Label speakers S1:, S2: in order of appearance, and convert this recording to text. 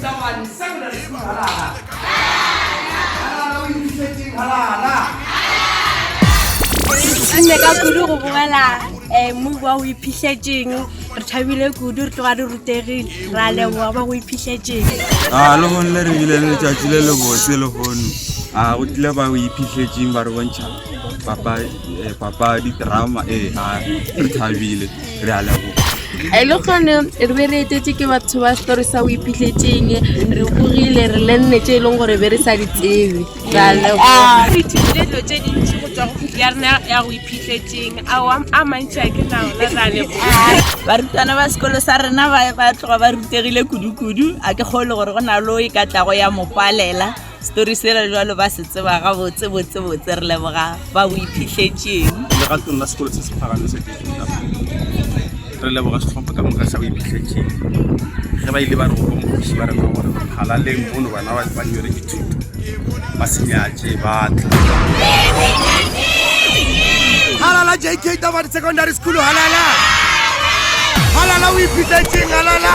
S1: Tšamane, Samuel a šupung halala. Halala, o itokišetšeng halala. Mme ka kudu go bogela um move wa go iphišetšeng re thabile kudu re tloga re rutegile ra leboga ba go iphišetšeng a lehono
S2: le re bile le letšatši le lebotse lehono a go tlile ba go iphišetšeng ba re bontšha papadi drama ee ga re thabile re a leboga e le gone
S1: re be re etetse ke batho ba story sa o iphitlhetseng re bogile re lenne tse e leng gore be re sa di tsebe re a leboga re ithutile dilo tse dintsi go tswa go khuti ya rena ya go iphitlhetseng ao a mantsi a ke naona re a leboga barutwana ba
S3: sekolo sa rena ba tloga ba rutegile kudu-kudu a ke kgole gore go na le o e ka tlago ya mo palela Story se re jwalo ba se tseba ga botse botse botse re leboga ba bo iphitlhetšeng. Le ga tona sekolo
S4: se se phagame se ke tla. Re leboga setlhopha ka moka sa bo iphitlhetšeng. Ge ba ile ba re go mokgosi ba re go gore phalaleng mono bana ba ba nyere dithuto. Ba se nyatše ba tla.
S5: Halala JK Tabadi Secondary School halala. Halala o iphitlhetšeng halala.